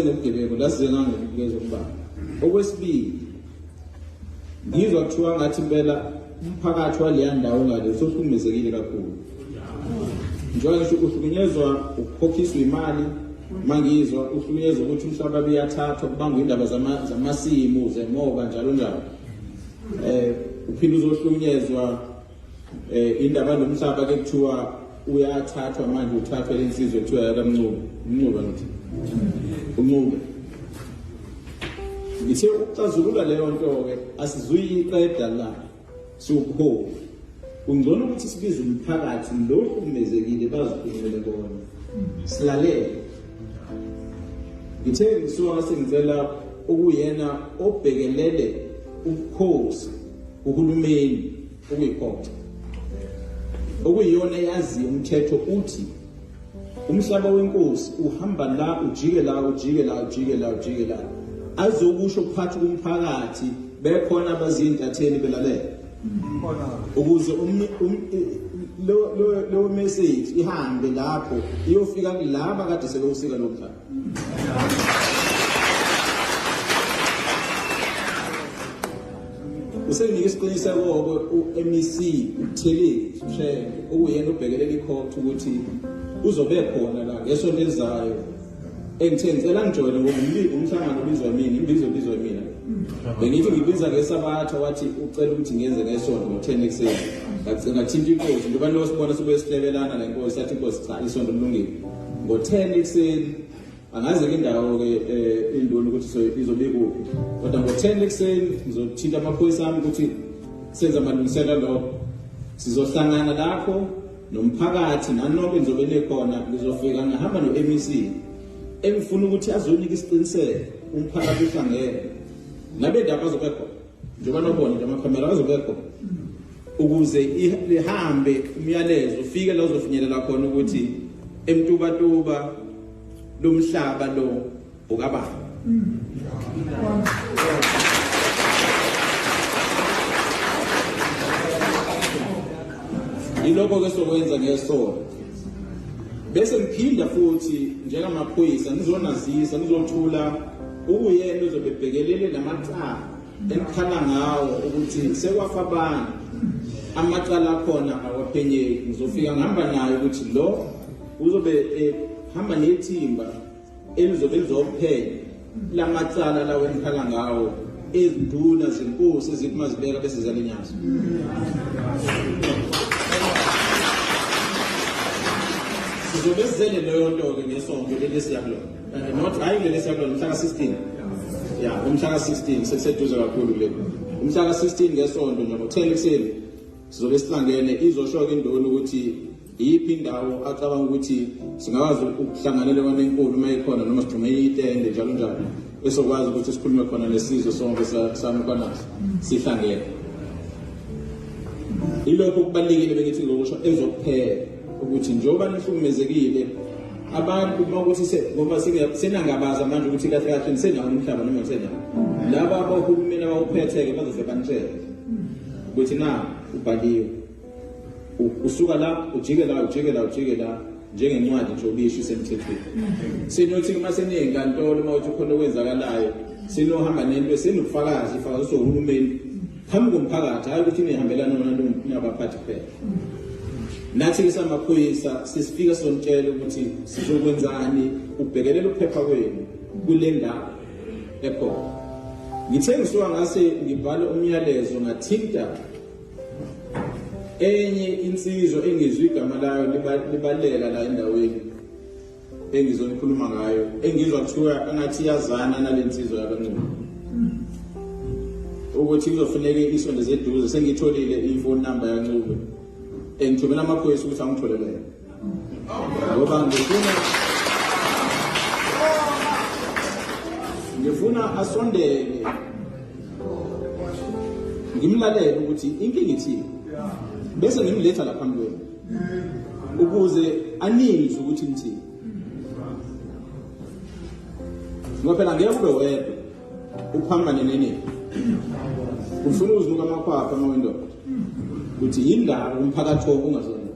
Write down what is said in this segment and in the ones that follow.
Ngobugebengu laziwe ngangokunikeza ukubanga. Okwesibili ngizwa kuthiwa ngathi impela umphakathi waleya ndawo ngale usohlukumezekile kakhulu. Njengoba ngisho uhlukunyezwa ukukhokhiswa imali mangizwa uhlukunyezwa ukuthi umhlaba biyathathwa kubangwa indaba zamasimu zemoba njalo njalo. Eh uphinde uzohlukunyezwa eh indaba nomhlaba ke kuthiwa uyathathwa manje uthathwa lensizwe kuthiwa yakamncube umncube ngithi umncube ngithe ukuxazulula leyo nto ke asizuyiqeda la siwubuholi kungcono ukuthi sibize umphakathi lo uhlukumezekile bazikhulumele kona silalele ngithe ngisuka sengicela ukuyena obhekelele ubukhosi uhulumeni ukuyiphoxa okuyiyona eyazi umthetho uthi umhlaba wenkosi uhamba la ujike la ujike la ujike la ujike la azokusho phakathi kumphakathi bekhona abazintatheli belalela ukuze leyo message ihambe lapho iyofika kulaba kade sebewusika lo mhlaba usenginika isiqiniseko-ke u-mec uthelile usheke okuyena ubhekelela ikhotha ukuthi uzobe khona la ngesonto elizayo engithe ngicela ngijoyine ngoba umhlangano ubizwa mina imbizo ubizwa mina bengithi ngibiza ngesabatha wathi ucela ukuthi ngenze ngesonto ngo-ten ekuseni ngagcina thinta inkosi ngoba losibona sibuye sihlebelana le nkosi sathi inkosi cha isonto lilungile ngo-10 ekuseni angazi ke indawo ke eh, induna ukuthi izobikuphi kodwa ngo-10 ekuseni ngizothinta amaphoyisa ami ukuthi senze amalungiselo lokho sizohlangana lapho nomphakathi nanoke ngizobe nekhona ngizofika ngihamba no-mec engifuna ukuthi azonika isiqiniseko umphakathi uhlangene nabendaba azobe khona njengoba nobona nje amakhomela azobe khona ukuze lihambe umyalezo ufike la uzofinyelela khona ukuthi emtubatuba lomhlaba lo ukabani yilokho ke sokwenza ngesonto bese ngiphinda futhi njengamaphoyisa ngizonazisa ngizothula Ukuyena uzobe ebhekelele namacala ekhala ngawo ukuthi sekwafa abantu amacala akhona awaphenyeki ngizofika ngihamba nayo ukuthi lo uzobe ehamba nethimba elizobe lizophenya lamacala lawo enikhala ngawo ezinduna zenkosi ezithi mazibeka bese ziyalinyaza sizobe sizele leyo nto-ke ngesonto leli esiyakulona Eh, not hayi kuleli esakulona umhla ka-16 ya umhla ka-16 sekuseduze kakhulu kuleli umhla ka-16 ngesonto nje ngo-10 ekuseni sizobe sihlangene izosho-ke indoni ukuthi iyiphi indawo acabanga ukuthi singakwazi ukuhlanganela kona enkulu uma ikhona noma sigxume itende njalo njalo esokwazi ukuthi sikhulume khona nesizwe sonke sanukwanaso sihlangene ilokho kubalulekile bengithi ngokusho ezokuphela ukuthi njengoba nihlukumezekile abantu bakuthi ngoba senangabaza manje ukuthi kahle kahle nisenawo umhlaba noma nisenawo laba abahulumeni abawuphethe-ke bazoze banitshele ukuthi na ubhaliwe usuka la ujike la ujike la ujike la njengencwadi nje obisho isemthethweni sinothi uma seneyinkantolo uma uthi khona okwenzakalayo sinohamba nento senobufakazi ifakazi sohulumeni phambi komphakathi hayi ukuthi nihambelana wona nabaphathi kuphela nathi ke samaphoyisa sisifika sonitshela ukuthi sizokwenzani ubhekelela ukuphepha kwenu kule ndawo ekhona ngithe ngisuka ngase ngibhala umyalezo ngathinta enye insizwa engizwe igama layo libaleka la endaweni engizonikhuluma ngayo engizwa kuthiwa engathi iyazana nale nsizwa yakancumo ukuthi kuzofuneke isonto zeduze sengitholile ifoni number yancube engithumela amaphoyisa ukuthi angitholele ngoba ngifuna ngifuna asondele ngimlalele ukuthi inkinga ithini bese ngimletha laphambi kwenu ukuze anizwe ukuthi ngithini ngoba phela ngeke ube wedwa uphambane nenini ufuna uzinuka amakhwapha uma wendoda ukuthi yindaba umphakathi wonke ungazona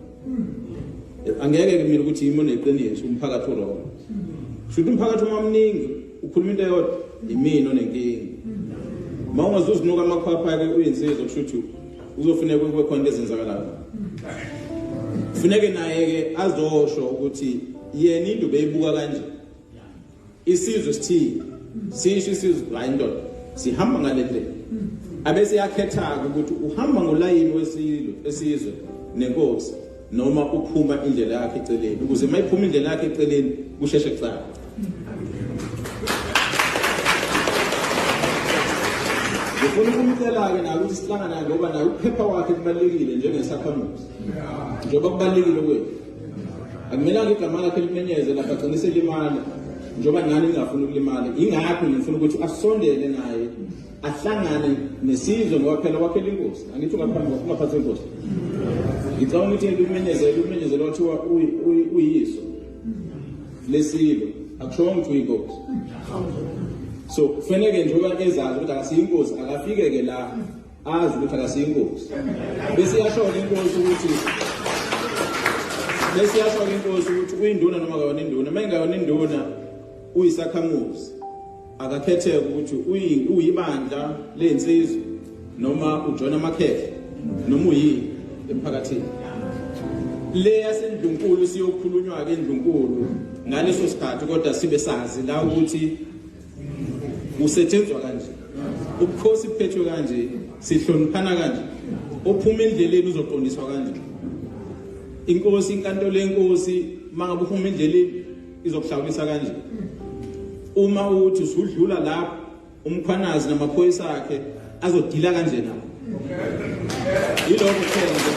angeke kumile ukuthi yimi oneqiniso umphakathi oloko shuthi umphakathi uma mningi ukhuluma into eyodwa yimina onenkinga uma ungazuzinuka amakhwapha-ke uyinsizwa kusho ukuthi kuzofuneka kube khona into ezenzakalayo kufuneke naye-ke azosho ukuthi yena into beyibuka kanje isizwe sithile sisho isizwe hayi ndoda sihamba ngale ndlela abese yakhetha-ke ukuthi uhamba ngolayini wesilwe esizwe nenkosi noma uphuma indlela yakhe eceleni ukuze uma iphuma indlela yakhe eceleni kusheshe kucaca ngifuna ukumcela-ke nayo ukuthi sihlangana ngoba naye ukuphepha kwakhe kubalulekile njengesakhamuzi njengoba kubalulekile kwethu akumelanga igama lakhe limenyeze lapha agcine selimala njengoba nani ningafuni ukulimala yingakho ngifuna ukuthi asondele naye ahlangane nesizwe ngoba phela wakhela inkosi angithi ungaphatha inkosi ngicabanga ukuthi yena umenyezela umenyezela wathiwa uyiso lesilo akushongo ukuthi uyinkosi so kufaneke nje uba ezazi ukuthi akasiyinkosi akafike-ke la azi ukuthi akasiyinkosi bese iyashoka inkosi ukuthi bese iyashoka inkosi ukuthi uyinduna noma kayona induna uma ingayona induna uyisakhamuzi Akakhetheke ukuthi uyi- uyibandla lensizwa noma ujoyina amakhehla noma uyini emphakathini. Le yaseNdlunkulu siyokhulunywa-ke eNdlunkulu ngaleso sikhathi kodwa sibe sazi la ukuthi kusetshenzwa kanje. Ubukhosi buphethwe kanje, sihloniphana kanje. Ophuma endleleni uzoqondiswa kanje. Inkosi, inkantolo yenkosi, mangabe uphuma endleleni izokuhlawulisa kanje uma uthi usudlula lapho umkhwanazi namaphoyisa akhe azodila kanje nawo yilokho kuphela nje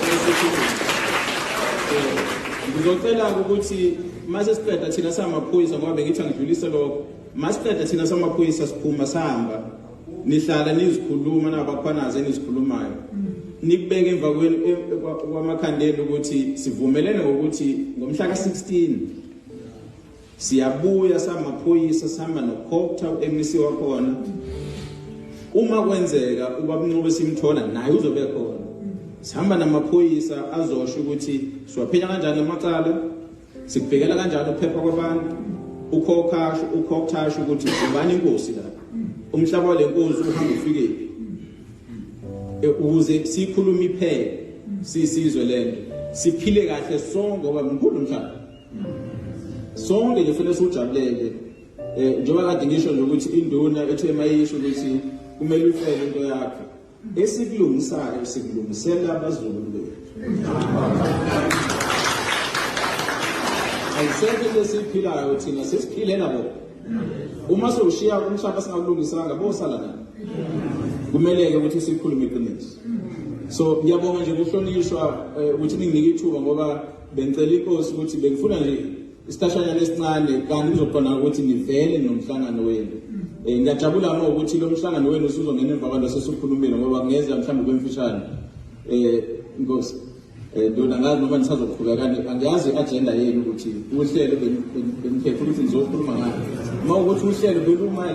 ngizocela ukuthi mase siqeda thina samaphoyisa ngoba bengithi angidlulise lokho masiqeda thina samaphoyisa siphuma sihamba nihlala nizikhuluma nabakhwanazi enizikhulumayo nikubeke emva e, kwamakhandela ukuthi sivumelene ngokuthi ngomhla ka-16 siyabuya samaphoyisa sihamba nokhopta u-mec wakhona uma kwenzeka ubabunqobe simthola naye uzobe khona sihamba namaphoyisa azosho ukuthi siwaphenya kanjani amacala Sikuvikela kanjalo ukuphepha kwabantu. Ukhokhasho ukhokhasho ukuthi ubani inkosi la. Umhlaba wale nkosi uhamba ufikephi. E, ukuze sikhulume iphele sisizwe lento. Siphile kahle sonke ngoba mkhulu umhlaba. Sonke nje fanele sujabulele. Eh njengoba kade ngisho nje ukuthi induna ethe mayisho ukuthi kumele ufele into yakho. Esikulungisayo sikulungisela abazukulu bethu. Ayisekho into esiyiphilayo thina sesiphilela bona. Uma sewushiya umhlaba singakulungisanga bosala nani? Kumele-ke ukuthi sikhulume iqiniso. So ngiyabonga nje kuhlonishwa eh, ukuthi ninginike ithuba ngoba bengicela inkosi ukuthi bengifuna nje isihlashanyana esincane kanti kuzokhona ukuthi nivele nomhlangano wenu um ngiyajabula ma ukuthi lo mhlangano wenu usuzongena emva kwanto sesukhulumile ngoba ngeza mhlawumbe kwemfishane um inkosi um ndona ngazi noma nisazoqhubeka angiyazi i-ajenda yenu ukuthi uhlelo beniphephe ukuthi nizokhuluma ngayo uma ukuthi uhlelo belumayela